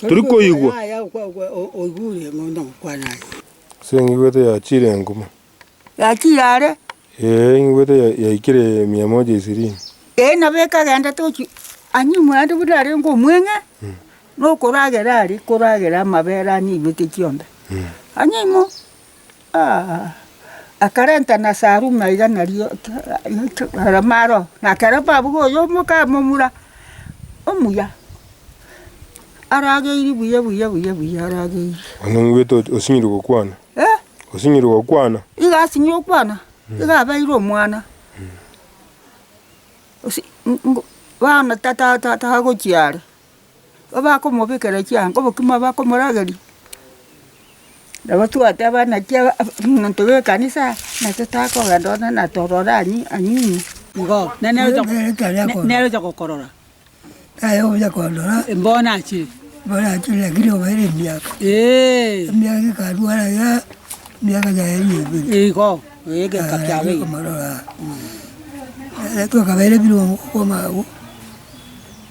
Tori koigwa. Ase ingigwete yachiire enguma. Yachiire are. Ee, ingigwete yaikire mia moja ishirini. Ee, nabo ekagenda tochia anyimwe ande buna arenge omweng'e, nokoragera are koragera amabere ane aibeke chionda. Anyimwe. Akarenta na Salumi aiga nario Maro, na kere babu boyio omoka momura omuya, arageiri buya buya buya buya arageiri. Onong'wete osinyire gokwana? Osinyire gokwana? Igo asinyire gokwana, igo abeire omwana. Bono tata tata agochia are, bakomobekera chianga obokima bakomorageria, nabo twateba naki omonto bw'ekanisa natatagokenda one natorore anyunywe igo nere ocha gokorora bono achire lakini obaire emiaka emiaka ekarwara iga emiaka yaye eye ebere igo egeka kiaye eye. Nere tokabaira ebirongo kwama abwo.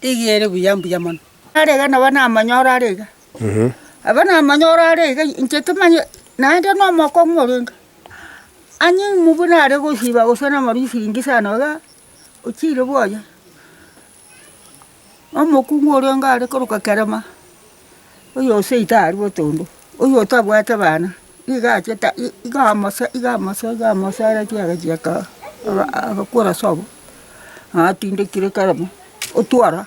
Eyio ere buya mbuya mono. Are iga nabo namanyore are iga. Nabo namanyore are iga, inche timanye naende nomokong'u orenge. Ang'e ng'u buna are gosiba gose namarisiringi sana iga, ochire bwoye. Omokung'u orenge are korokwa kerema. Oyosei tari botondo, oyotabwate bana nigo achete igo amose igo amose igo amose areti agachia ka aga agakora sobo, atindekire kare mo, otwara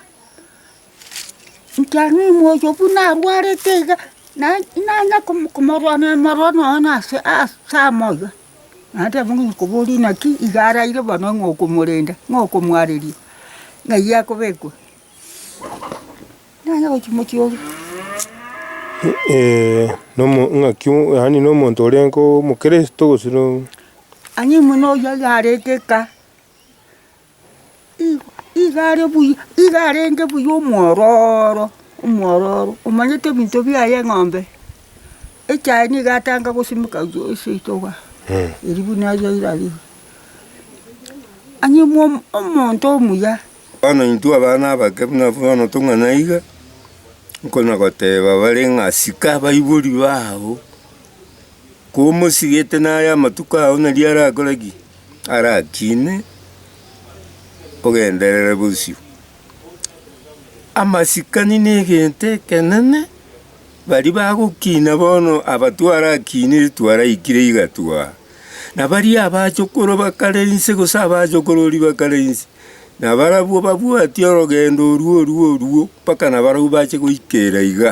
nkiaro omoyo buna arwarete iga naye nanya komo komorwania amarwa nonya na ase ase amo iga, naende abwo ngonye koboria naki iga araire bo nonya ng'okomorenda, ng'okomwareri ng'ai akobekwa. Nonye gochia mochie oria. Nomo ng'aki o- yaani na omonto oria nko omokristo gose no. Ang'e imwe na oyio iga arenge eka. Igo iga are buya, iga arenge buya omwororo, omwororo, omanyete ebinto biaye eng'ombe, echaye nigo atanga gosimeka ase ritoba eria buna aria erarenge. Ang'e imwe omonto omuya Bono intwe abana abake buna abwo bono tong'ana iga, nkonyagoteeba bare ng'a sika abaibori bao, komosigete naye amatuko ao nari arakore ki? Arakine ogenderere bosio. Amasikani na egento ekenene, baria bagokina bono aba twarakinire twaraikire iga twa, na baria abachokoro bakare inse gose abachokorori bakare inse, Na barabwo babwati orogendo orwo orwo orwo mpaka nabarabwo bache goika era iga.